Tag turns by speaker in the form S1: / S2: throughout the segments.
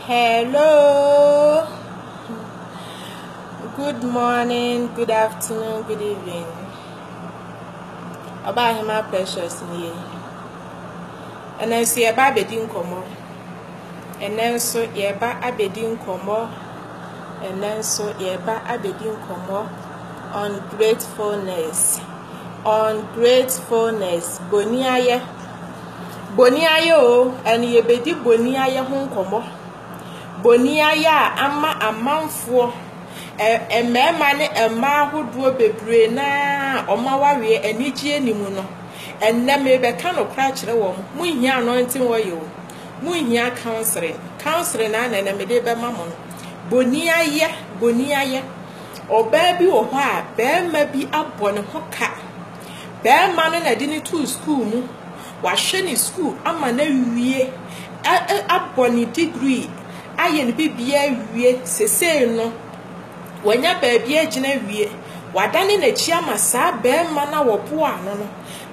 S1: Hello. Good morning, good afternoon, good evening. Ọba Ahema Precious nie. Ɛnna nso yɛba abɛdi nkɔmmɔ. Ɛnna nso yɛba abɛdi nkɔmmɔ. Ɛnna nso yɛba abɛdi nkɔmmɔ on gratefulness. On gratefulness. Boniayɛ. Boniayɛ oo, ɛno yɛbɛdi boniayɛ ho nkɔmmɔ. Boniayɛ a ama amanfoɔ, ɛ mmarima ne mmaa ahodoɔ bebree no ara wɔn awareɛ anigyeɛ nni mu no, ɛnnɛ merebɛka nokorɛ akyerɛ wɔn, monhia anointing oil o, monhia counselling, counselling ara na ɛnnɛ mede rebɛma mo no. Boniayɛ, boniayɛ, ɔbaa bi wɔ hɔ a barima bi abɔ ne ho ka, Barima no na de no too sukuu mu. Wahwɛ ne sukuu ama no awie, a a abɔ ne degree, ayɛ ne biribiara awie. Sesei no, wanya baabi agyina awie. Wadane n'akyi ama saa barima no a wɔboaa no no.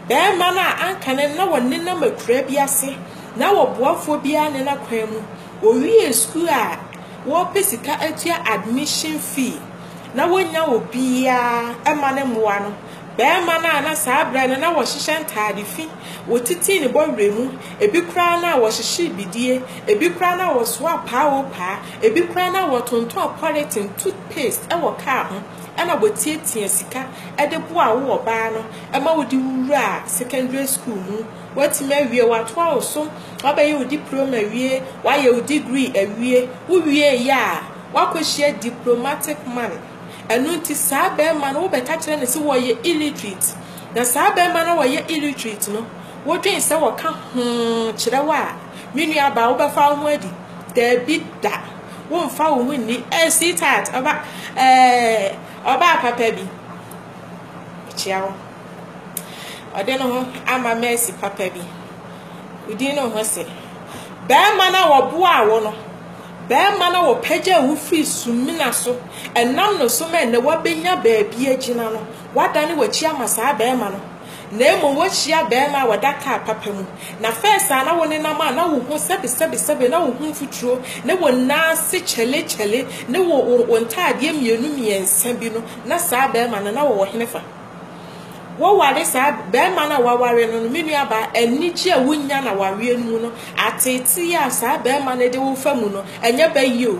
S1: Barima no a anka no na ɔnenam akuraa bi ase, na ɔboafoɔ biara ne no akwan mu. Ɔwiee sukuu a, wɔrepɛ sika atua admission fee. na wonnya obiara mma no mmoa no, barima no a na saa berɛ no na ɔhyehyɛ ntaade fi, wɔtitii ne bɔwerɛ mu, ebi koraa na wɔhyehyee bidie, ebi koraa na wɔsoaa paao paa, ebi koraa na wɔtontɔn pɔleten, toothpaste, wɔ kaa ho, ɛna wɔtiatia sika de boaa wo ɔbaa no ma wode wo wuraa secondary school mu, woatumi awie, wɔatoa wo so, woabɛyɛ wo diploma awie, woayɛ wo degree awie, wowieeɛ a, Wakohyia diplomatic money ɛno nti saa bɛɛma no wobɛka kyerɛ no se wɔyɛ illiterate na saa bɛɛma no a wɔyɛ illiterate no wodwen sɛ wɔka hoo kyerɛ wo a me nua abaa wobɛfa wo ho adi daabi da womfa wo ho nni eh sweetheart ɔba eh ɔbaa papa bi mekyia wo ɔde no ho ama mercy papa bi wodin no ho se bɛɛma no a wɔboaa wo no Barima no a wɔpagyaa wo firii sumina so nam no so ma ɛnnɛ woabɛnya baabi agyina no, woadane w'akyi ama saa barima no, na mmom woahyia barima a ɔda kaa papa mu. Na fɛs a na wonenam a na wo ho sɛbesɛbesɛbe, na wo ho mfuturo, ne wo nan ase kyɛlekyɛle, ne wo wo wo ntaadeɛ mmienu mmiɛnsa bi no, na saa barima no, na ɔwɔ henefa? Woware saa barima no a waware no no, me nuabaa, anigye a wonya no awareɛ no mu no, ateetee a saa barima no de wo fa mu no, ɛnyɛ bɛyie o.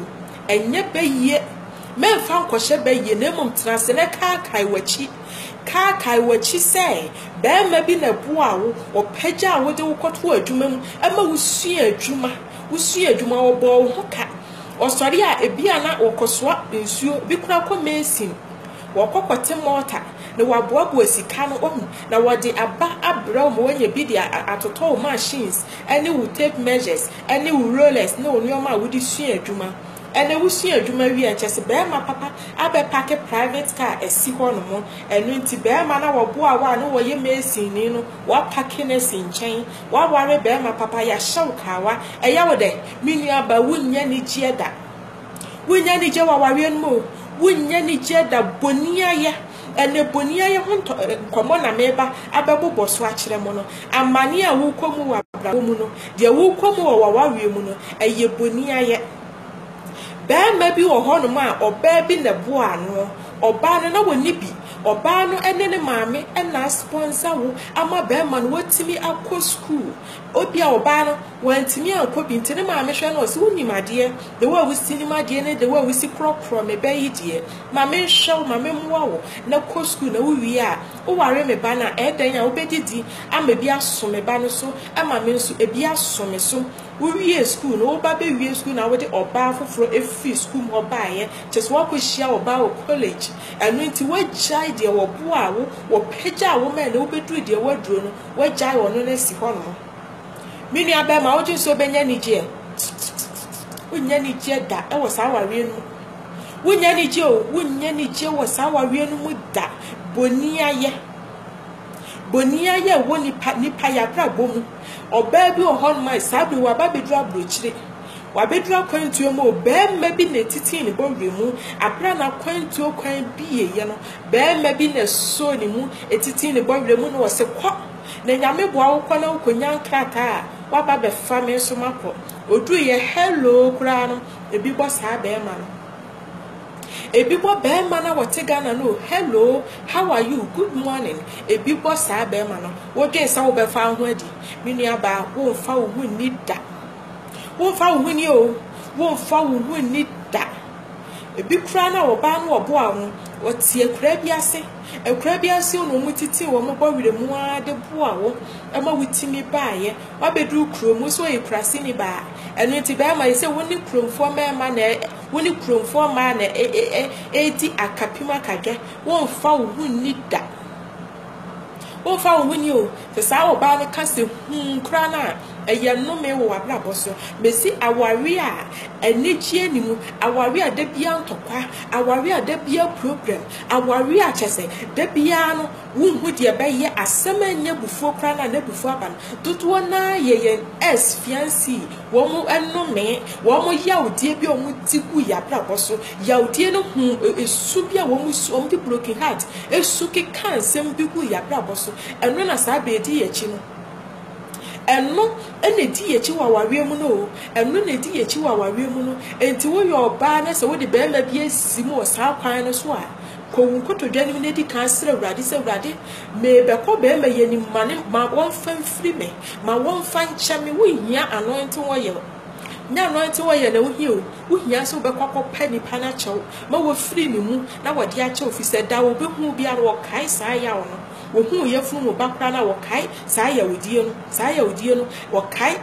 S1: Ɛnyɛ bɛyie. Mɛmfa nkɔhyɛ bɛyie, na mmom tena ase na kaakae w'akyi. Kaakae w'akyi sɛ barima bi na ɛboa wo, ɔpagya a wode wo kɔto adwuma mu, ɛma wosua adwuma, wosua adwuma, ɔbɔɔ wo ho ka. Ɔsɔre a, ebi a na wɔkɔsoa nsuo, bi koraa kɔ mesin. Wɔkɔ kɔte mɔɔta na wɔaboaboa sika no wahu, na wɔde aba abrɛ wo ma woanya bi de atotɔ wo machines ne wo tape measures ne wo rollers ne wo nneɛma a wode sua adwuma. Ɛnna wosua adwuma wie a, kyerɛ sɛ barima papa abɛpake private car asi hɔnom. Ɛno nti, barima no a wɔboaa wo a na ɔyɛ masonni no, wɔapake no asi nkyɛn. Woaware barima papa, yɛahyɛ wo kawa. Ɛyɛ wo dɛ? Me nuabaa, wunnya anigyeɛ da. Wonnya anigye wɔ awareɛ no mu o. Wonnya anigye da boniayɛ. Ɛnɛ boniayɛ ho ntɔ eh, nkɔmmɔ na meba abɛbobɔ so akyerɛ mo no. Amane a wokɔ mu wɔ abrabɔ mu no, deɛ wokɔ mu wɔ w'awareɛ mu no, ɛyɛ boniayɛ. Barima bi wɔ hɔnom a ɔbaa bi na ɛboa ano. Ɔbaa no na wɔnni bi. Ɔbaa no ne ne maame na aspɔnsa wo ama barima no watumi akɔ sukuu. Obia ɔbaa no wantumi ankɔ bi nti ne maame hwɛ no ɔse wonim adeɛ the way a wosi nim adeɛ ne the way a wosi korɔkorɔ me bɛ yi deɛ ma me nhwɛ wo ma me mmoa wo na kɔ school na wo wie a wo ware me ba no a ɛɛdɛn a wo bɛ didi ama bi aso me ba no so ɛma me nso ɛbi aso me so wo wie school no wo ba bɛ wie school na wo de ɔbaa foforɔ ɛfiri school mu hɔ baayɛ kyɛ sɛ wakɔ hyia ɔbaa wɔ college ɛno nti wagyae deɛ wɔboa wo wɔpɛgya wo mɛ na wo bɛ duru deɛ waduro no Wagyae ɔno no asi hɔnom. Me nua bɛrima, wogye nso wobɛnya anigyeɛ. Wonnya anigyeɛ da wɔ saa awareɛ no mu. Wonnya anigyeɛ o, wonnya anigyeɛ wɔ saa awareɛ no mu da. Boniayɛ. Boniayɛ wɔ nipa nipa yɛ abrabɔ mu. Ɔbaa bi wɔ hɔnom a saa bere waba abɛduru aburokyire. Wabɛduru akwantuo mu o, barima bi na ɛtitii ne bɔwerɛ mu. Aberɛ a n'akwantuo kwan bieeɛ no, Barima bi na ɛsosɔɔ ne mu, ɛtitii ne bɔwerɛ mu na ɔse, Kɔ, na Nyame boa wo kɔ na wo kɔnya nkrataa a woaba abɛfa me nso makɔ. Ɔduruiɛ, hello koraa no, ɛbi bɔ saa barima no. Ɛbi bɔ barima no a ɔte Ghana no o, hello, how are you, good morning, ɛbi bɔ saa barima no. Wodwen sɛ wobɛfa wo ho adi. Me nua baa, womfa wo ho nni da. Womfa wo ho nni o, womfa wo ho nni da. Ebi koraa na wɔbaa na wɔboaa hɔn, wɔtse akuraa bi ase, akuraa bi ase na wɔtsitsee hɔn bɔ werɛ mu ara dze boaa wo ma wotumi baeɛ. Woabɛduru kurom, wo so woyɛ kuraseni baa, ɛno nti bɛrima yɛ sɛ wo ne kuromfoɔ mmarima na ɛ wo ne kuromfoɔ mmaa na ɛ ɛ ɛredi akapem akadwɛ. Womfa wo ho nni da Womfa wo ho nni o. Sɛ saa ɔbaa no ka sɛ humm koraa no a, ɛyɛ nnome wɔ w'abrabɔ so. Mesi aware a anigyeɛ nni mu, aware a da biara ntɔkwa, aware a da biara problem, aware a kyerɛ sɛ da biara no wonhu deɛ ɛbɛyɛ, asɛm a ɛnyɛ abufuo koraa no a n'abufuo aba no, dodoɔ no ara yɛ yɛn ex fiancee. Wɔnome, wɔn yawdie bi a wɔde gu yɛn abrabɔ so, yawdie no ho su bi a wɔsu, wɔde broken heart su keka nsɛm bi gu yɛn abrabɔ so, ɛno na saa bɛ di yɛn akyi no. Ɛno na ɛdi yɛn akyi wɔ awareɛ mu no o, ɛno na ɛdi yɛn akyi wɔ awareɛ mu no. Enti woyɛ ɔbaa na sɛ wode barima bi asi mu wɔ saa kwan no so a, kɔ wo nkotodwe anim na di kan srɛ Awurade sɛ, Awurade, merebɛkɔ barima yi anim ma ne ma wɔmfa mfiri me. Ma wɔmfa nkyɛ me. Wohia anointing oil. Nyɛ anointing oil na wohia o, wohia sɛ wobɛkɔ akɔpɛ nnipa no akyɛ wo ma wɔafiri ne mu na wɔde akyɛ wo, ɛfiri sɛ da a wɔbɛhu wo biara no, wɔkae saa yaw no. Wɔhu wo yafunu mu ba koraa no a, wɔkae saa yawdie no, saa yawdie no, wɔkae.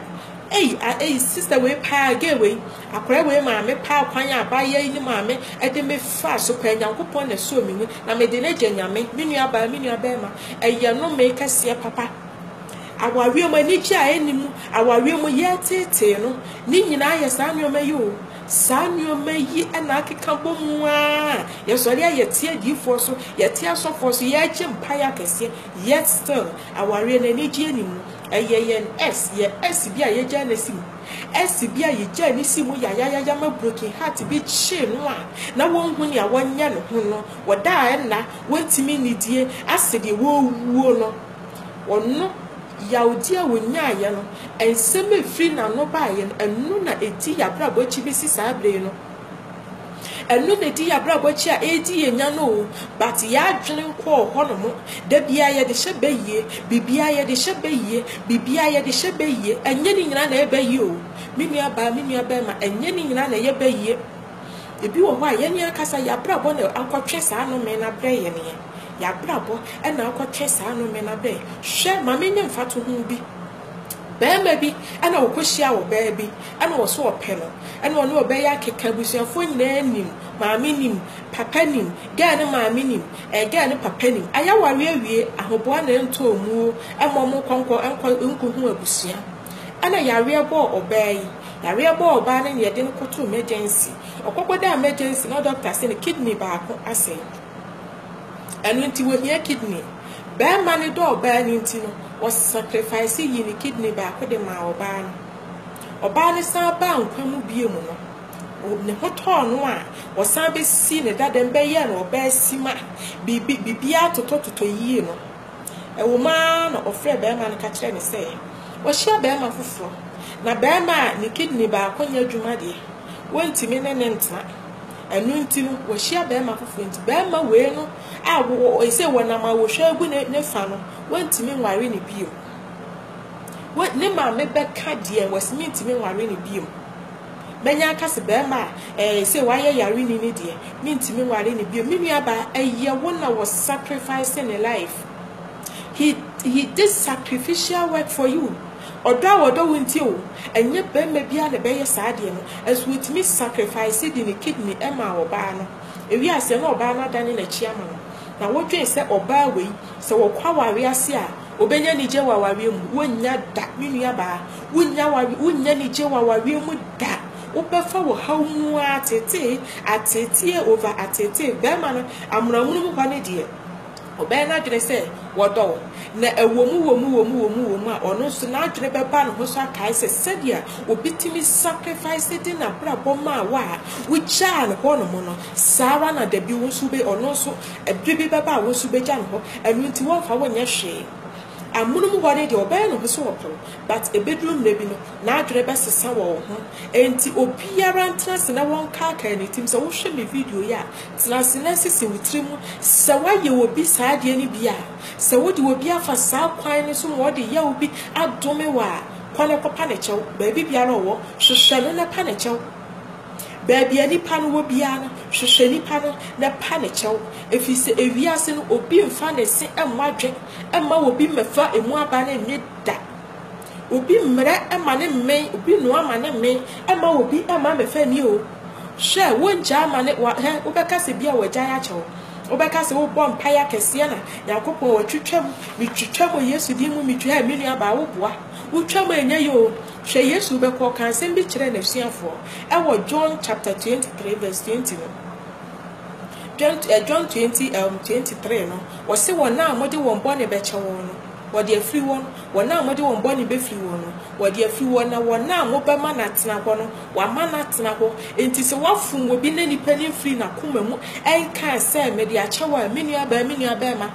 S1: Ei, a, ei, sister wei paa, gay wei, akwadaa wei maame paa, kwan a abaayewa yi ne maame de me faa so paa, Nyankopɔn na ɛsɔɔ me mu, na mede no agya Nyame, me nuabaa, me nuabarima, ɛyɛ nnome kɛseɛ papa. Awareɛ mu anigyeɛ a ɛnni mu, awareɛ mu yɛ teetee no, ne nyinaa yɛ saa nneɛma yi o. Saa nneɛma yi na akeka bɔ mu ara. Yɛsɔre a yɛte adiyifoɔ so, yɛte asɔfoɔ so, yɛregye mpaeɛ akɛseɛ, yet still awareɛ no anigyeɛ nni mu. Ɛyɛ yɛn S, yɛn S bi a yɛgyaa no asi mu. S bi a yɛgyaa no sii mu yayayaya ma broken heart bi kyee no a na wɔnhu nea wɔnyɛ ne ho no, wɔdaa nna, wɔntumi nnidie, asɛ deɛ wɔrewuo no. Ɔno, yawdi a ɔnyaaeɛ no, nsɛm a ɛfiri n'ano baeɛ no, ɛno na ɛdi yɛn abrabɔ akyi bɛsi saa berɛ yi no. Ɛno na ɛdi yɛn abrabɔ akyi a ɛredi yɛn nya no o, but yɛn adwene nkɔɔ hɔnom. Da biara yɛde hyɛ bɛyie, biribiara yɛde hyɛ bɛyie, biribiara yɛde hyɛ bɛyie. Ɛnyɛ ne nyinaa na ɛyɛ bɛyie o, me nua baa, me nua barima, ɛnyɛ ne nyinaa na ɛyɛ bɛyie. Ebi wɔ hɔ a, yɛn ankasa yɛn abrabɔ na akɔtwe saa nnome no abrɛ yɛn. Y'abrabɔ na akɔtwe saa nnome no abɛn. Hwɛ, ma menyɛ mfatoho bi. Barima bi na ɔkɔhyia ɔbaa bi, na ɔso ɔpɛ no, na ɔne ɔbaa yi akeka, abusuafoɔ nyinaa nim, maame nim, papa nim, gɛɛ no maame nim, ɛɛ gɛɛ no papa nim. Ayɛ aware awie, ahoboa na ɛntɔ ɔmu o, ɛma ɔmo kɔ nkɔ nkɔ nkɔhu abusua. Ɛna yareɛ bɔɔ ɔbaa yi, yareɛ bɔɔ ɔbaa no na yɛde no kɔtoo mɛgyɛnsi. Ɔkɔkɔdaa mɛgyɛnsi na dɔkta se no kidney baako asɛe. Ɛno nti wohia kidney. Barima no dɔ ɔbaa no nti no, ɔsacrifice yii ne kidney baako de maa ɔbaa no. Ɔbaa no san baa nkwa mu bio mu no, ne ho tɔɔ no a ɔsan bɛsii ne dadam bɛyɛɛ no ɔbaa sima, biribi, biribiara totɔtotɔ yie no. Ɛwɔ mu ara na ɔfrɛɛ barima no ka kyerɛɛ no sɛ wahyia barima foforɔ, na barima a ne kidney baako nyɛ adwuma deɛ, wɔntumi ne no ntena. Ɛno nti no, wahyia barima foforɔ nti, barima wei no a ɔsɛ wɔnam a wɔhwɛ agu ne fa no, wɔntumi nware no bio. Ne maame bɛka deɛ wɔsi mentumi nware no bio. Mɛnya aka se barima a ɛɛ sɛ wayɛ yareni no deɛ mentumi nware no bio. Me nua baa, ɛyɛ wo na wɔ sacrifice ne life. He, he did sacrificial work for you. Ɔdɔ a wɔdɔ wo nti o, ɛnyɛ barima biara na ɛbɛyɛ saa adeɛ no, nso otumi sacrifice de ne kidney maa ɔbaa no, ewie aseɛ na ɔbaa no adane n'akyi ama no, na wodwen sɛ ɔbaa wei sɛ ɔkɔ awareɛ ase a ɔbɛnya anigyeɛ wɔ awareɛ mu, wonnya da me nuabaa, wonnya awareɛ, wonnya anigyeɛ wɔ awareɛ mu da, wobɛfa wɔ haw mu ara ateetee, ateetee over ateetee, barima no amonoamono mu hɔ no deɛ. Ɔbɛyɛ n'adwene sɛ wɔdɔ wo, na ɛwɔ mu wɔ mu wɔ mu wɔ mu wɔ mu a, ɔno nso n'adwene bɛba ne ho so akae sɛ sɛdeɛ obi tumi sacrifice de n'abrabɔ maa wo a wogyaa no hɔ nom no, saa ara na da bi wo nso wobɛ, ɔno nso ɛberɛ bi bɛba a wo nso wobɛgya no hɔ. Ɛno nti wɔmfa wo nyɛ hwee. Amonom hɔ no deɛ ɔbɛyɛ ne ho sɛ ɔpɛ wo, but ɛbɛduru mmerɛ bi no, n'adwene bɛsesa wɔ wo ho. Enti obiara ntena ase na wɔnkaakaa ne tirim sɛ, wohwɛ me video yi a, Tena ase na sisi wo tirim sɛ woayɛ obi saa adeɛ no bi a. Sɛ wode obi afa saa kwan no so ma ɔde yaw bi adome wo a, kɔ na kɔpa no kyɛw. Baabi biara a ɔwɔ, hwehwɛ no na pa no kyɛw. Baabi a nipa no wɔ biara no, hwehwɛ nipa no na pa no kyɛw. Ɛfiri sɛ ewiase no, obi mfa ne se mmɔ adwene mma obi mmɛfa emu aba no nnye da. Obi mmrɛ ma ne mmen, obi nnoa ma ne mmen, mma obi mma mmɛfa nni o. Hwɛ, wongyaa ma ne, wa, hɛ, wobɛka sɛ bia wɔagyae akyɛ wo. Wobɛka sɛ wobɔ mpaeɛ akɛseɛ na Nyankopɔn wɔtwitwa mu, metwitwa mu wɔ Yesu din mu, metwi, hɛ, me nua baa woboa, wotwa mu a ɛnyɛ yɛ o. Hwɛ, Yesu bɛkɔ, ɔkaa nsɛm bi kyerɛɛ n'asuafoɔ ɛwɔ John chapter 23 verse 20 no. John, eh, John 20, um, 23 no, wɔse wɔn a mode wɔn bɔne bɛkyɛ wɔn no, Wɔde afiri wɔn, wɔn a mode wɔn bɔne bɛfiri wɔn no, wɔde afiri wɔn, na wɔn a mobɛma no atena hɔ no, wɔama no atena hɔ. Enti sɛ wɔafom obi na nipa no mfirii n'akoma mu nkaa sɛ, Mede akyɛ wo a, me nuabaa, me nuabarima,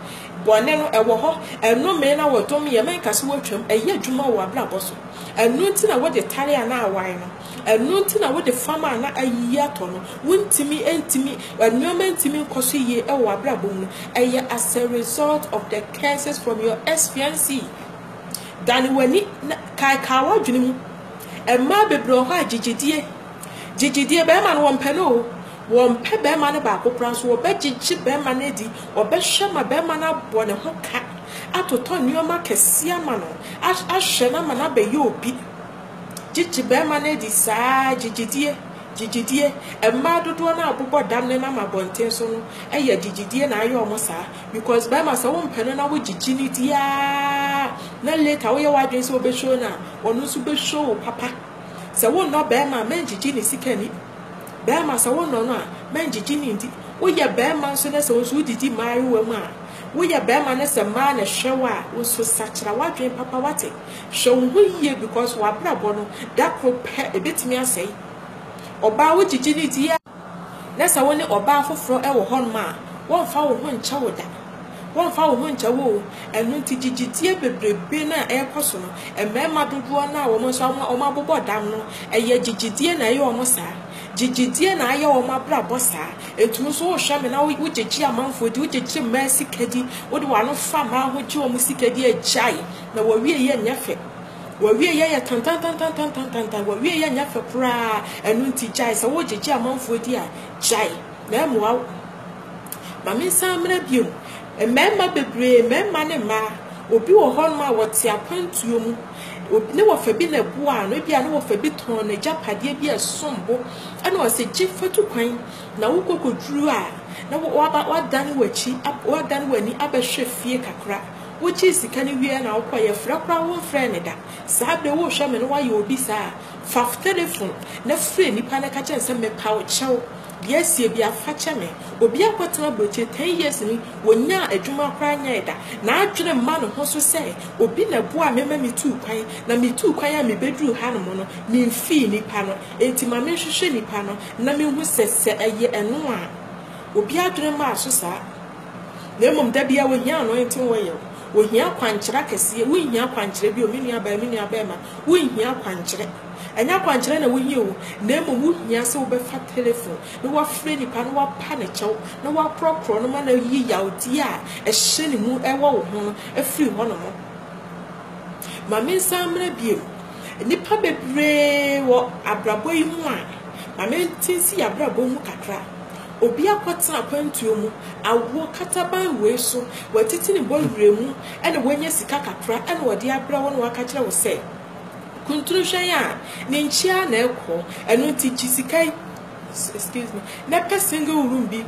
S1: bɔne no, ɛwɔ hɔ, ɛnomee na wɔdomeeɛ, menka sɛ wɔatwam, ɛyɛ adwuma wɔ w'abrabɔ so, ɛno nti na wode tare anaa wae no, Ɛno nti na wode fam a na ayiyi atɔ no, wontumi ntumi, nneɛma ntumi nkɔ so yie wɔ w'abrabɔ mu no, ɛyɛ as a result of the curses from your expiancy. Dane w'ani na kaekae w'adwene mu. Mmaa bebree wɔ hɔ a gyegyedie, gyegyedie, bɛrima no wɔmpɛ no o, wɔmpɛ bɛrima no baako koraa nso wɔbɛgyegye bɛrima no adi, wɔbɛhwɛ ma bɛrima no abɔ ne ho ka, atotɔ nneɛma kɛseɛ ama no, ahwɛ no ama no abɛyɛ obi. Gye gye barima no adi saa ara, gye gyedie, gye gyedie. Mmaa dodoɔ no a wɔbobɔ dam nenam abɔnten so no yɛ gye gyedie na ayɛ wɔn saa because barima sɛ wompɛ no na wogye gye no di ara na later woyɛ w'adwene sɛ wobɛ show no a, ɔno nso bɛ show wo papa. Sɛ wonnɔ barima a, mɛngye gye ne sika ni. Barima sɛ wonnɔ no a, mɛngye gye ne ndi. Woyɛ barima nso na sɛ wo nso wodidi mmaayewa mu a, woyɛ barima na sɛ mmaa na ɛhwɛ wo a, wo nso sakyera w'adwene papa, woate? Hwɛ wo ho yie because w'abrabɔ no da koro pɛ ɛbɛtumi asɛe. Ɔbaa wo gyegye no di a, na sɛ wo ne ɔbaa foforɔ wɔ hɔnom a, wɔmfa wo ho nkyɛ wo da. Wɔmfa wo ho nkyɛ wo o. Ɛno nti gyegyedie bebrebe no a ɛrekɔ so no, mmarima dodoɔ no a wɔn nso wɔn abobɔ dam no, ɛyɛ gyegyedie na ɛyɛ wɔn saa. Gyegyedie na ayɛ wɔn abrabɔ saa. Ɛtumi nso wohwɛ me na wogyegye amanfoɔ di, wogyegye mmaa sika di, wode w'ano fa mmaa ho gye wɔn sika di, agyae. Na w'awieeɛ nyɛ fɛ. W'awieeɛ yɛ tantantantantantantantan. W'awieeɛ nyɛ fɛ koraa. Ɛno nti gyae. Sɛ wogyegye amanfoɔ di a, gyae. Na ɛmmoa wo. Ma mensan mmra bio. Mmarima bebree, mmarima ne mmaa, obi wɔ hɔnom a ɔte akwantuo mu. Obi, ne wɔfa bi na ɛboaa no. Ebia ne wɔfa bi tɔn n'agyapadeɛ bi a ɛsom bo. Ɛna ɔse, gye fa tu kwan. Na wokɔ kɔduru a, na waba, wadane w'akyi, wadane w'ani abɛhwɛ fie kakra. Wokyii sika no wieɛ na wokɔe, yɛfrɛ koraa wonfrɛɛ me da. Saa bere worehwɛ me no woayɛ obi saa a, fa w'telefon na frɛ nnipa na ka kyerɛ no sɛ mepa wo kyɛw, deɛ asie biara fa kyɛ me. Obi a watena aburokyire ten years ni, ɔnyaa adwuma koraa nyɛɛ da, n'adwene mma ne ho so sɛ obi na ɛboaa me ma metuu kwan, na metuu kwan a mebɛduruu hanom no memfii nnipa no, enti ma menhwehwɛ nnipa no na menhu sɛ sɛ ɛyɛ ɛno a. Obi adwene mmaa so saa. Na mmom da biara wɔhia anointing oil, wɔhia akwankyerɛ akɛseɛ. Wonhia akwankyerɛ bio, me nua baa, me nua barima, wonhia akwankyerɛ. Ɛnyɛ akwankyerɛ na wohia o, na mmom wohia sɛ wobɛfa telephone na woafrɛ nipa na woapa ne kyɛw na woakorɔkorɔ no ma no ayi yawdeɛ a ɛhyɛ ne mu ɛwɔ wo ho no afiri hɔ nom. Ma me nsan mmerɛ bio, nnipa bebree wɔ abrabɔ yi mu a, ma me nte nsi yɛn abrabɔ mu kakra. Obi akɔtena akwantuo mu, awoɔ kataban wei so, watiti ne bɔ werɛ mu na wanya sika kakra na ɔde abrɛ wo na waka kyerɛ wo sɛ, Kuntunu hwɛ yɛn a, ne nkyia ara na ɛrekɔ, ɛno nti gye sika yi, excuse me, na pɛ single room bi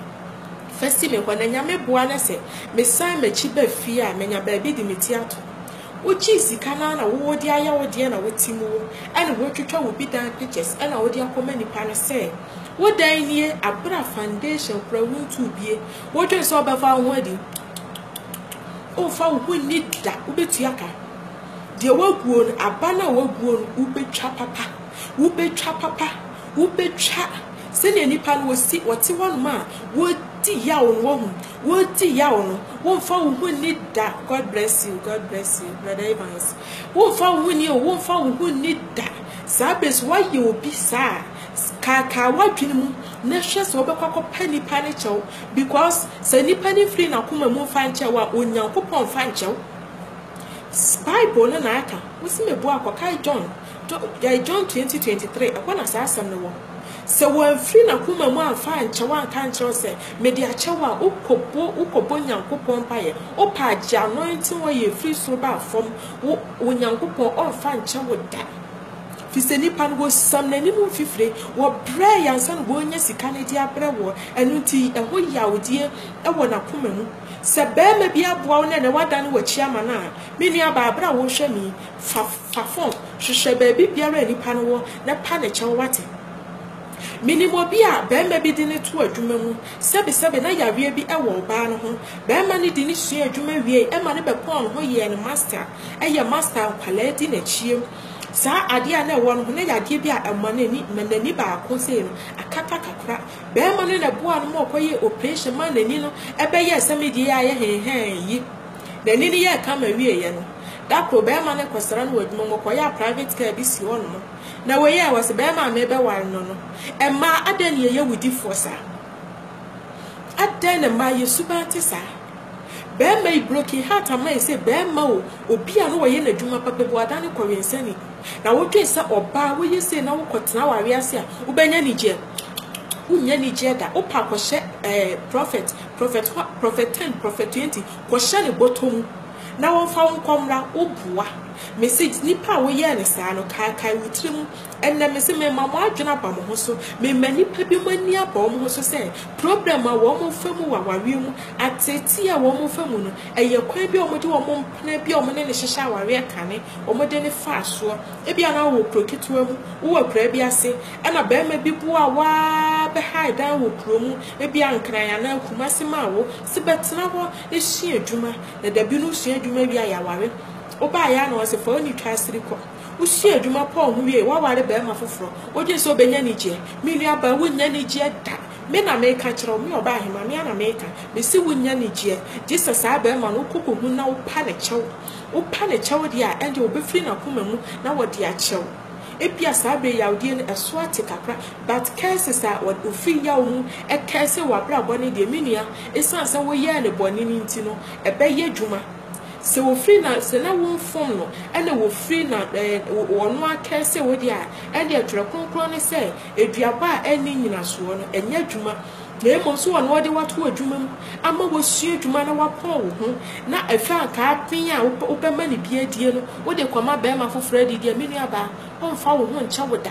S1: fa si me hɔ na Nyame boa na sɛ mesan m'akyi ba fie a, manya baabi de me ti ato. Wogyee sika no ara na wo wode ayɛ wo deɛ na wote mu wo na wɔatwitwa wo bi dan pictures na wode akɔma nipa no sɛ, Wo dan nie abena foundation kora wo ntu bie wo dwen sɛ ɔbɛfa wo ho adi o fa wo ho nni da wo bɛtua ka deɛ waguo no aba no a waguo no wo bɛtwa papa wo bɛtwa papa wo bɛtwa sɛnea nipa no wɔsi wɔte hɔ nom a wɔdi yaw no wahu wɔdi yaw no womfa wo ho nni da God bless you God bless you brother Evans womfa wo ho nni o womfa wo ho nni da saa bɛsi wayɛ obi saa Kaakae w'adwene mu na hwɛ sɛ wobɛkɔ akɔpɛ nipa no kyɛw because sɛ nipa no mfiri n'akoma mu mfa nkyɛ wo a, Onyankopɔn mfa nkyɛ wo. Bible no na aka, wose mebu a kɔkae John, eh, John 20:23, ɛhɔ na saa asɛm no wɔ. Sɛ wamfiri n'akoma mu amfa ankyɛ wo anka nkyerɛ wo sɛ mede akyɛ wo a, wokɔbɔ wokɔbɔ Nyankopɔn mpaeɛ, wopɛ a gye anointing oil firi soro ba fam, wo Onyankopɔn ɔmfa nkyɛ wo da. Efisɛ nnipa no, wɔsiam n'anim mfifire, wɔbrɛɛ yɛ ansa na wɔrenya sika no de abrɛ woɔ, ɛno nti ɛho yawdeɛ wɔ n'akoma mu. Sɛ barima bi aboa wo na ɛnnɛ woadane w'akyi ama no a, me nuabaa, berɛ a worehwɛ me yi, fa fa fam, hwehwɛ baabi biara a nnipa no wɔ na pa ne kyɛw, woate? Menim obi a barima bi de no too adwuma mu, sɛbesɛbe na yareɛ bi wɔ ɔbaa no ho, barima no de no suaa adwuma wiei ma no bɛkɔɔ ne hɔ yɛɛ no master, ɛyɛ master a nkwadaa di n'akyi. Saa adeɛ a na ɛwɔ no ho, na ɛyɛ adeɛ bi a ɛma n'ani, ma n'ani baako sei no akata kakra. Barima no na ɛboaa no ma ɔkɔyɛɛ operation maa n'ani no bɛyɛɛ sɛ me deɛ yi a ayɛ hɛnhɛn yi. N'ani no yɛɛ kama wieeɛ no, da koro barima no kɔsra no wɔ adwuma mu, ɔkɔyɛɛ a private car bi si hɔnom. Na wei yɛ, ɔse barima a merebɛware no no, mmaa adɛn na yɛyɛ wudifoɔ saa? Adɛn na mmaa yɛ suban te saa? Bɛɛma yi broken heart ama yɛ sɛ bɛɛma o obi a na wɔyɛ no adwuma papa bi wadan no kɔ wensani na wodwen sɛ ɔbaa woyɛ sei na wokɔ tena aware ase a wobɛnya anigyeɛ wonnya anigyeɛ da wopɛ a kɔ hyɛ ɛɛ prophet prophet hɔ prophet ten prophet twenty kɔ hyɛ ne bɔtɔ mu na wɔmfa wo nkɔ mmra wo boa mese nipa a woyɛɛ no saa no kaakae wo tiri mu Ɛnnɛ mese mema mo adwene aba mo ho so, mema nnipa bi mo ani aba wɔn ho so sɛ problem a wɔn fa mu wɔ awareɛ mu, ateetee a wɔn fa mu no, ɛyɛ kwan bi a wɔde wɔn mpena bi a wɔne no hyehyɛ awareɛ kane, wɔde no faa soɔ. Ebia na wowɔ kuro ketewa mu, wowɔ akuraa bi ase, ɛna barima bi boaa wo ara bɛhae dan wɔ kuro mu, ebia Nkran anaa Kumasi maa wo se bɛtena hɔ sua adwuma, na dabi no wosua adwuma wie a yɛaware. Wobaeɛ ara na ɔse fa wo nitwaasiri kɔ. Wosua adwuma pɔw ho wiei, woaware barima foforo, wodwen sɛ obenya anigyeɛ. Me nuabaa, wonnya anigyeɛ da. Me na meka kyerɛ wo, me ɔbaahemaa, me ara na meka. Mese wonnya anigyeɛ, gye sɛ saa barima no wokɔ kɔhu no na wopa ne kyɛw. Wopa ne kyɛw deɛ a, ɛnde wɔbɛfiri n'akoma mu na wɔde akyɛ wo. Ebia saa berɛ yi yawodeɛ no ɛso ate kakra, but curses a wɔfiri yaw mu curse w'abrabɔ no deɛ, me nua, esiane sɛ woyɛɛ no bɔne no nti no, ɛbɛyɛ adwuma. Sɛ wɔfiri na sɛ na wɔmfom no na wɔfiri na wɔno ara kɛɛ sɛ wɔdi a, ɛnneɛ Twerɛ Kronkron no sɛ, Aduaba a ɛnni nnyinasoɔ no, ɛnyɛ adwuma, na mmom sɛ wɔno wɔde wo ato adwuma mu ama woasua adwuma na woapɔn wo ho, na afei anka aben a wobɛma no bi adie no, wode rekɔma barima foforɔ adidi a, me nuabaa, wɔmfa wo ho nkyɛ wo da.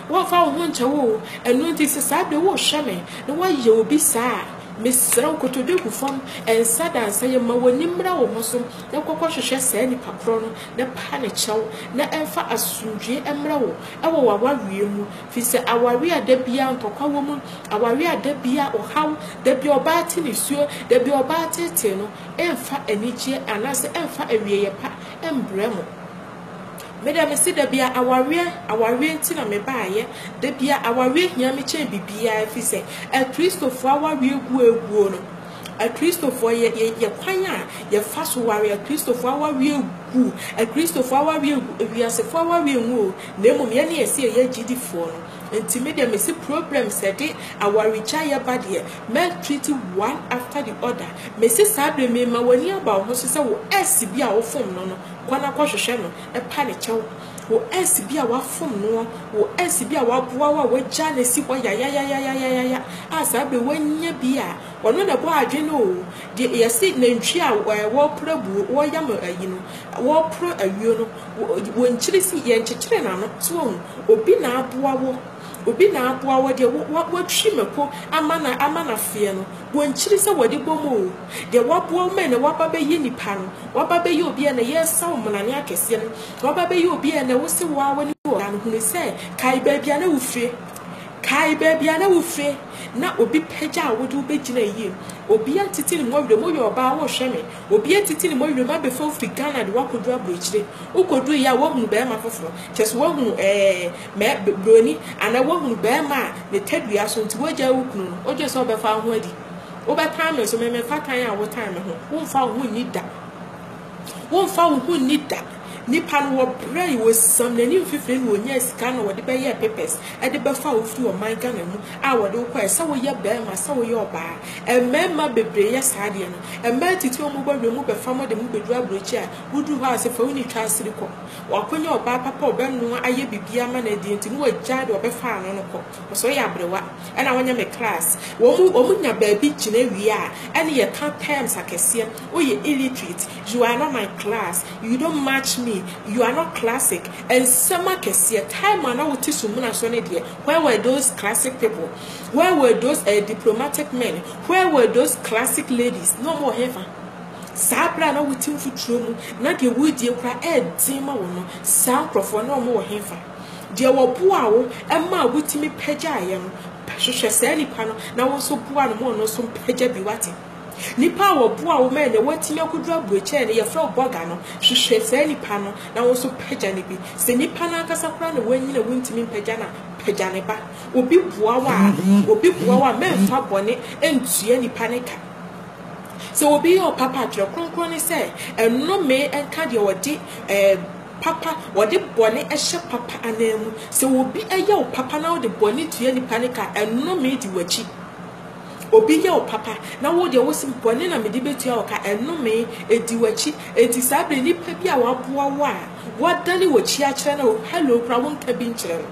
S1: Wɔmfa wo ho nkyɛ wo o. Ɛno nti sɛ saa berɛ worehwɛ me na woayɛ obi saa a, Mesrɛ wo, kotodwe gu fam, nsa da nsa yam, ma w'ani mmra wo ho so, na kɔkɔhwehwɛ saa nipa korɔ no, na paa no kyɛw, na ɛmfa asomdwoeɛ mmra wo wɔ w'awareɛ mu, firi sɛ awareɛ a da biara ntɔkwa wɔ mu, awareɛ a da biara ɔhaw, da biara ɔbaa te nisuo, da biara ɔbaa teetee no, ɛmfa anigyeɛ anaasɛ ɛmfa awieeɛ pa mbrɛ mo. Me dɛ mese dabia awareɛ awareɛ nti na me baayɛ dabia awareɛ hia me kyɛn bibiaa ɛfiri sɛ akristofoɔ awareɛ gu aguo no akristofoɔ yɛ yɛ yɛ kwan a yɛfa so ware akristofoɔ awareɛ gu akristofoɔ awareɛ gu ewiasefoɔ awareɛ ngu o na mmom yɛne yɛsi ɛyɛ agyidifoɔ no nti me dɛ mese problem sɛ de awaregya yɛ ba deɛ mɛ treat one after the other mese saa bere mema w'ani aba wo ho so sɛ wo ɛsi bi a wofom no no Kɔ na kɔhwehwɛ no, pa ne kyɛw. Wo ex bi a wafom noɔ, wo ex bi a waboa wo a wagyaa no asi hɔ yayayayayayaya a saa berɛ yi wanya bi a, ɔno na ɛbɔ adwene o. Deɛ yɛse nantwie a wɔreporo abuo, wɔreyam ayi no, wɔreporo ayuo no, wɔnkyiri si, yɛnkyekyere n'ano, so wahu? Obi na aboa wo. Obi na aboa wo deɛ watwi mako ama no ama no afeɛ no, bɔ nkyiri sɛ wɔde bɔ mu oo, deɛ waboa wo ma ɛnɛ waba bɛyɛ nipa no, waba bɛyɛ obi a ɛnɛ yɛresa wo mmonane akɛseɛ no, waba bɛyɛ obi a ɛnɛ wose wo ara w'ani wɔ ɔbaa no, hunu sɛ kae baabi a na wofire, kae baabi a na wofire, na obi pagya wo de wobɛgyina ayie, obi atete ne mɔwerɛ mu, woyɛ ɔbaa worehwɛ me, obi atete ne mɔwerɛ mu abɛfa wo firi Ghana de wo akɔduru aburokyire, wokɔduru yɛ a woahunu barima foforɔ, kyerɛ sɛ woahunu ɛɛ. Mɛ, Broni, anaa woahunu barima a ne tadua so nti woagyae wo kunu no? Wogye sɛ wobɛfa wo ho adi? Wobɛtan me nso, me memfa tan a wotan me ho. Womfa wo ho nni da. Womfa wo ho nni da. Nipa no, wɔbrɛ yi, wɔsiam n'ani mfifire na wɔnyaa sika na wɔde bɛyɛɛ papers de bɛfaa wo firi ɔman Ghana mu a wɔde wo kɔɛ sɛ woyɛ barima, sɛ woyɛ ɔbaa. Mmarima bebree yɛ saa adeɛ no. Mmaa titiriw a wɔbɔ awiam bɛfa mo de mo bɛduru aburokyi a, woduru hɔ a sɛ fa wo ni twa asiri kɔ. Wakwanya ɔbaa papa a ɔbɛnoa ayɛ biribiara ama no adi nti na wagyae deɛ ɔbɛfa ano no kɔ. Ɔsɛ ɔyɛ aberewa ɛna wanya me class. Wɔn wɔn nya baabi gyina wie a ɛne yɛka terms akɛseɛ. Woyɛ illiterate, you are not my class, you don't match me, you are not classic. Nsɛm akɛseɛ. Time a na wote sumina so no deɛ where were those classic people? Where were those ɛɛ diplomatic men? Where were those classic ladies? Na wɔn wɔ hefa? Saa bere a na wote mfuturo mu na deɛ woredie koraa yɛ den ma wo no, saa nkurɔfoɔ no, na wɔwɔ hefa? Deɛ wɔboaa wo maa wotumi pagyaeɛ no, hwehwɛ saa nipa no na wo nso boa no ma ɔno nso mpagya bi, woate? Nipa a wɔboaa wo maa nea watumi akɔduru aburokyɛɛ no, yɛfrɛ wo bɔga no, hwehwɛ saa nipa no na wo nso pagya no bi. Sɛ nipa no ankasa koraa na wanyin a wontumi mpagya no a, pagya ne ba. Obi boa wo a, obi boa wo a, mɛmfa bɔne ntua nipa no ka. Sɛ obi yɛ ɔpapa a, Twerɛ Kronkron no sɛ, Nnome nka deɛ ɔde papa, ɔde bɔne hyɛ papa anan mu. Sɛ obi yɛ wo papa na wode bɔne tua nipa no ka a, nnome di w'akyi. Obi yɛ wo papa na wo deɛ wose bɔne na mede bɛtua wo ka, nnome di w'akyi. Enti saa berɛ nipa bi a waboa wo a, wadane w'akyi akyerɛ no a, hello koraa wonka bi nkyerɛ no.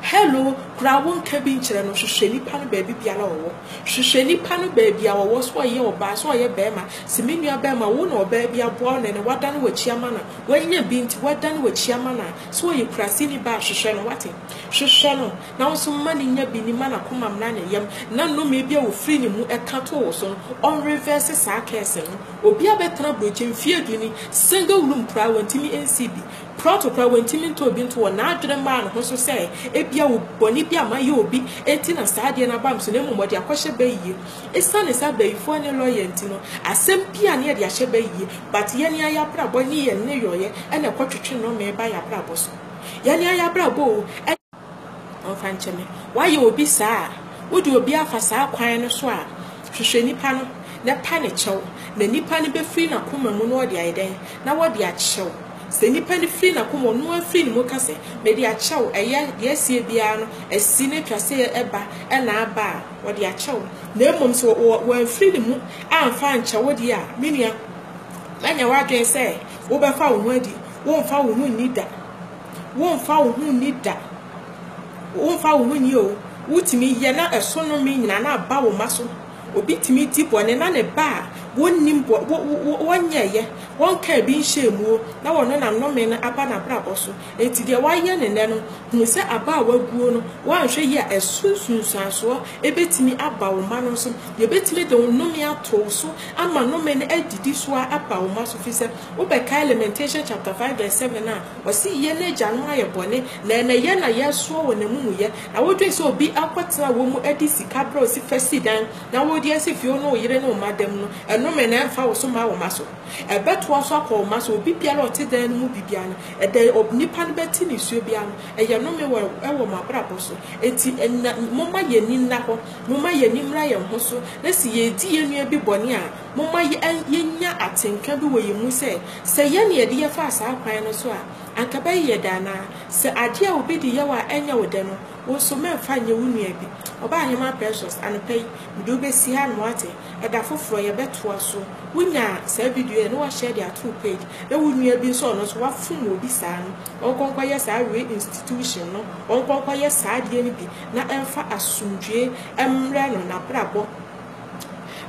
S1: Hello koraa wonka bi nkyerɛ no. Hwehwɛ nipa no baabi biara ɔwɔ. Hwehwɛ nipa no baabi a ɔwɔ, sɛ ɔyɛ ɔbaa, sɛ ɔyɛ barima, se me nua barima wo na ɔbaa bi aboa wo nɛnɛ wadane w'akyi ama no a, w'anya bi nti wadane w'akyi ama no a, sɛ ɔyɛ kuraseni ba a, hwehwɛ no, wate? Hwehwɛ no na wo nso ma no nya bi, ni ma no akomam na ne yam, na nnome bi a ɔfiri ne mu ɛka too wo so no, ɔnrevɛɛse saa curse no. Obi abɛtena aburokyi mfeɛ du ni, single room koraa wɔntumi nsii bi, Prɛko pɛ, wantumi ntɔ bi nto wɔn. N'adwene maa ne ho so sɛ ebia bɔne bi a mayɛ obi nti na saa adeɛ no aba me so, na mmom ɔde akɔhyɛ Bayie. Esiane sɛ abayifoɔ ne lɔya nti no, asɛm biara a na yɛde ahyɛ Bayie, but yɛn ara yɛn abrabɔ ne yɛn nneyɔeɛ na ɛkɔtwetwe nnɔmee ba yɛn abrabɔ so. Yɛn ara yɛn abrabɔ o! Ɔmfa nkyɛ me. Woayɛ obi saa a, wode obi afa saa kwan no so a, hwehwɛ nipa no na pa ne kyɛw, na nipa no bɛfiri n'akoma mu na ɔde ayɛ dɛn? Na ɔde akyɛ wo. Sɛ nipa no firi n'akoma, ɔno ara firi ne mu ka sɛ, mede akyɛ wo, ɛyɛ deɛ asie biara no, asi na atwa sɛ ɛba na aba a, ɔde akyɛ wo. Na mmom sɛ wamfiri ne mu amfa ankyɛ wo deɛ a, me nua, manya w'adwene sɛ wobɛfa wo ho adi, womfa wo ho nni da. Womfa wo ho nni da. Womfa wo ho nni o. Wotumi yɛ na ɛso nnome nyinaa na aba wo mma so. Obi tumi di bɔne na ne ba a wɔnnim bɔ, wɔ, wɔ, wɔnyɛeɛ, wɔnkaa bi nhyɛɛ mu o, na wɔno na nnome no aba n'abrabɔ so. Enti deɛ wayɛ no nnɛ no, hunu sɛ aba a waguo no, woanhwɛ yie a, ɛso nsunsuansoɔ bɛtumi aba wo mma no so. Yɛbɛtumi de wo nnome ato wo so ama nnome no adidi so ara aba wo mma so, firi sɛ wobɛkae Lamentation chapter 5 verse 7 a Ɔse yɛn agyanom ayɛ bɔne, na ɛnɛ yɛn na yɛresoa wɔn amumuyɛ. Na wodwen sɛ obi akɔtena wɔn mu adi sika berɛ a osi fa si dan, na wode asi fie wo ne wo yere ne wo mma dam no, ɛnnome na ɛmfa wo so mma wo mma so. Ɛbɛtoa so akɔ wo mma so. Obi biara a ɔte dan no mu bi biara no, ɛdɛ onipa no bɛte ne nsuo biara no, ɛyɛ nnome wɔ ɛwɔ mo abrabɔ so. Enti na momma yɛn ani nna hɔ, momma yɛn ani mmra yɛn ho so, na se yɛredi yɛn nua bi bɔne a, momma yɛn yɛnya atenka bi wɔ yɛn mu sɛ, Sɛ yɛn na yɛde yɛ faa saa kwan no so a, anka ɛbɛye yɛ dɛ anaa? Sɛ adeɛ a obi de yɛ wo a ɛnyɛ wo dɛ no, wo nso mɛmfa nyɛ wo nua bi. Ɔbaahemaa Precious, anɔpa yi, mede wo bɛsi ha no wate? Ɛda foforɔ, yɛbɛtoa so. Wo nya saa video yi a, na wa share de ato wo page, na wo nua bi nso a ɔno nso wafom obi saa no, ɔnkɔ nkɔ yɛ saa re institution no, ɔnkɔ nkɔ yɛ saa adeɛ no bi na ɛmfa asomdwoe mmrɛ no, n'abrabɔ.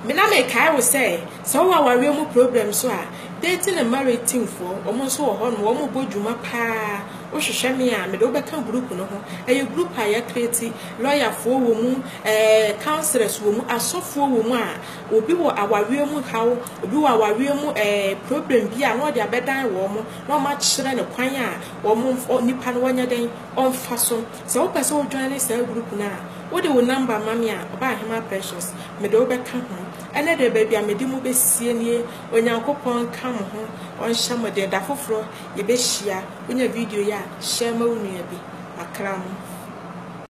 S1: Me na me kae wo sɛ sɛ wowɔ awareɛ mu problem so a dating and marriage team foɔ wɔn nso wɔ hɔ nom wɔn bɔ dwuma paa wohwehwɛ me a mede wobɛka group no ho ɛyɛ group a yɛ create lawyer foɔ wɔ mu ɛɛ eh, counselors wɔ mu asɔfoɔ wɔ mu a obi wɔ awareɛ mu haw obi wɔ awareɛ mu ɛɛ eh, problem bi a na ɔde abɛdan wɔn na wɔn akyerɛ no kwan a wɔn nipa no wɔnyɛ dɛn ɔmfa so Sɛ wopɛ sɛ wo joine saa group no a, wode wo number ma me a, Ɔbaahemaa Precious, mede wo bɛka ho. Ɛnɛ deɛ baabi a mede mo bɛsie nie, Onyankopɔn nka mo ho, Ɔnhyɛ mo den. Da foforɔ yɛbɛhyia. Wonya video yi a, share ma wo nua bi. Makra mo.